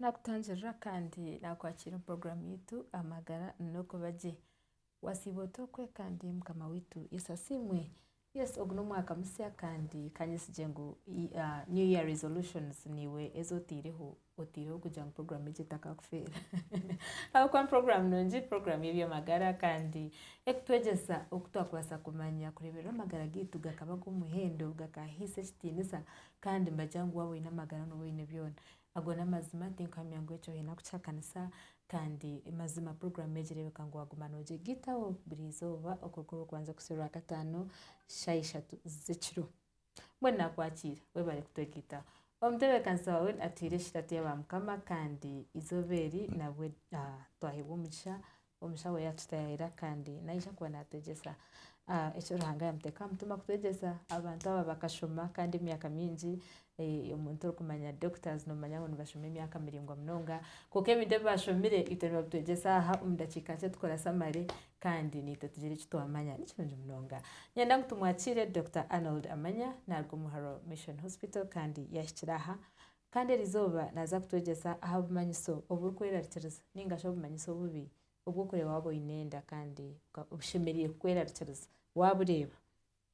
Nakutangirira kandi nakwakira omu puroguramu yaitu amagara n'okuba gye. Wasiiba ota okwekambya Mukama waitu Yesu asiimwe. Yes ogu n'omwaka musya kandi kanyesigye ngu new year resolutions niiwe ezi oteireho oteireho kugira ngu program egi etakakufeera ahabw'okuba ni program nungi program y'eby'amagara kandi ekutwegyesa oku twakubaasa kumanya kureeberera amagara gaitu gakaba g'omuhendo gakahaisa ekitiinisa kandi nibagira ngu waaba oine amagara nooba oine byona Ago n'amazima, tinkuhamya ngu ekyo oine kukihakanisa, kandi mazima puroguraamu egi reebeka ngu waaguma noogyegitaho buri izooba okuruga orw'okubanza kuhitsya orwakataano shaaha ishatu z'ekiro. Mbwenu naakwakiire, webare kutwegitaho. Omutebekazi waawe atuhaire ekiratiya ba mukama kandi izooba eri nabwe twaheebwa omugisha Omushaho yaatutaayaayira kandi naija kuba naatwegyesa eki Ruhanga yaamuteeka aha mutima kutwegyesa. Abantu aba bakashoma kandi emyaka mingi. Omuntu orikumanya Doctors noomanya ngu nibashoma emyaka miraingwa munonga. Kwonka ebintu ebi baashomire itwe nibabitwegyesa aha omu ndakiika nkye tukora samare kandi naitwe tugira eki twamanya. Ni kirungi munonga. Niinyenda ngu tumwakiire Doctor Arnold Amanya naaruga omu Haro Mission Hospital kandi yaahikire aha Kandi eri izooba naaza kutwegyesa aha bumanyiso oburikwerarikiriza nainga shi obumanyiso obubi obw'okureeba waaba oine enda kandi bushemereire kukwerarikiriza. Waaba oreeba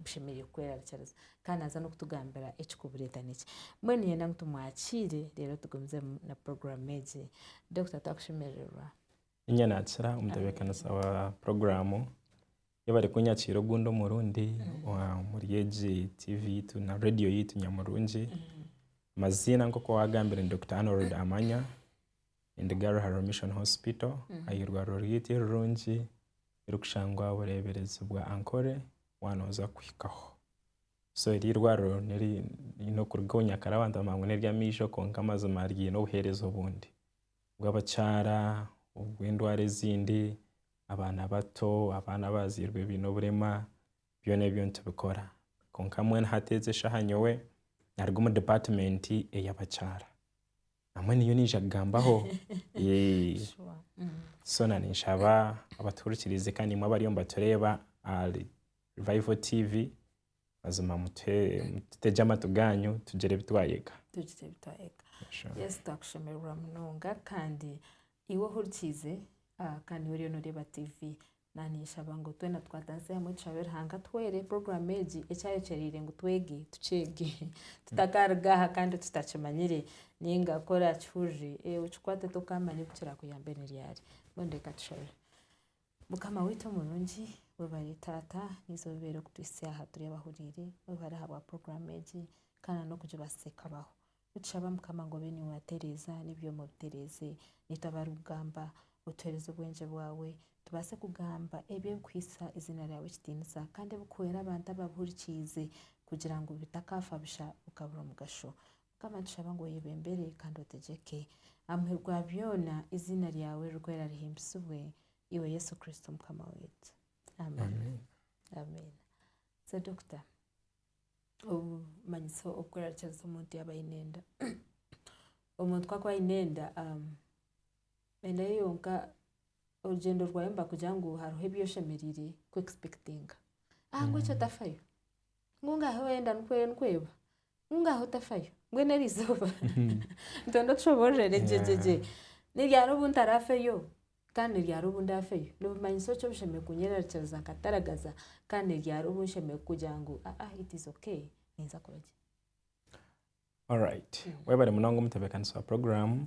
bushemereire kukwerarikiriza. Kandi naaza n'okutugambira ekikubureeta nikyo. Mbwenu niinyenda ngu tumwakiire reero tugumizemu na puroguraamu egi. Dokita twakushemerererwa. Niinye naakira omutebeekanisa wa puroguraamu. Ei barikunyakiira ogundi omurundi omuri egi tiivi yaitu na reediyo yaitu Nyamurungi. Amaziina nk'oku waagambire ni Dokita Arnold Amanya, Endiga Ruharwa Mission Hospital, ah'eirwariro ryaitu erirungi erikushangwa aha bureeberezi bwa Ankole waanoza kuhikaho. So eri eirwariro niri n'okuruga obu nyakare abantu baamanya ngu n'ery'amaiso kwonka mazima ryine obuheereza obundi. bw'abakyara, obw'endwara ezindi, abaana bato, abaana abazairwe baine oburema, byona ebyo nitubikora. Kwonka mbwenu hati egi eshaaha nyowe naruga omu department ey'abakyara. Na mbwenu niyo naija kugambaho. So na ninshaba abatuhurikiriize kandi nimwe abariyo nibatureeba ahari Revival TV. Mazima mutegye amatu gaanyu tugire ebi twayega. Tugire ebi twayega. Yesu twakushemererwa munonga kandi iwe ohurikiize kandi iwe oriyo noreeba tiivi, naanishaba ngu twena tukwatanise hamwe tushabe Ruhanga atuhwere puroguramu egi eki ayekyereire ngu twege tukyege tutakaruga aha kandi tutakimanyire nainga ku orakihurire okikwate ote okaamanya oku kirakuyambe ni ryari. Mbwenu reka tushabe. Mukama waitu omurungi webare taata naiza obibeere kutwitsya aha turi abahuriire webare ahabwa puroguramu egi kandi n'okugibaasa ekabaho nitushaba mukama ngu obe niiwe watereeza n'ebyoma obitereeze naitu abarikugamba otuheereze obwengye bwawe tubaase kugamba ebyo ebikuhitsya eiziina ryawe ekitiinisa kandi ebikuhwera abantu ababihurikiize kugira ngu bitakaafa busha bikabura omugasho. Mukama nitushaba ngu oyebembere kandi otegyeke. Amuheru gwa byona eiziina ryawe ririkwera rihimbisibwe, iwe Yesu Kristo Mukama waitu. Amen. Amen. So Dokita, obumanyitso obukworarikiriza omuntu yaaba aine enda. Omuntu ku akuba aine enda, enda ye yonka, orugyendo rwayo nibakugira ngu hariho ebi oshemereire kwekispekitinga. Ahangu ekyo tafayo. ngu ngaho enda nikwo nikweba ngu ngaho tafayo mbwenu eri izooba nitwenda otushoboororere gyegyegye niryari obu ntarafeyo kandi niryari obu ndafeyo nibimanyisa oki obushemereire kunyerarikiriza nkataragaza kandi niryari obu nshemereire kugira ngu aa it is okay ninza kuba gye. Alright. Webare munonga omutebeekanisi wa puroguraamu.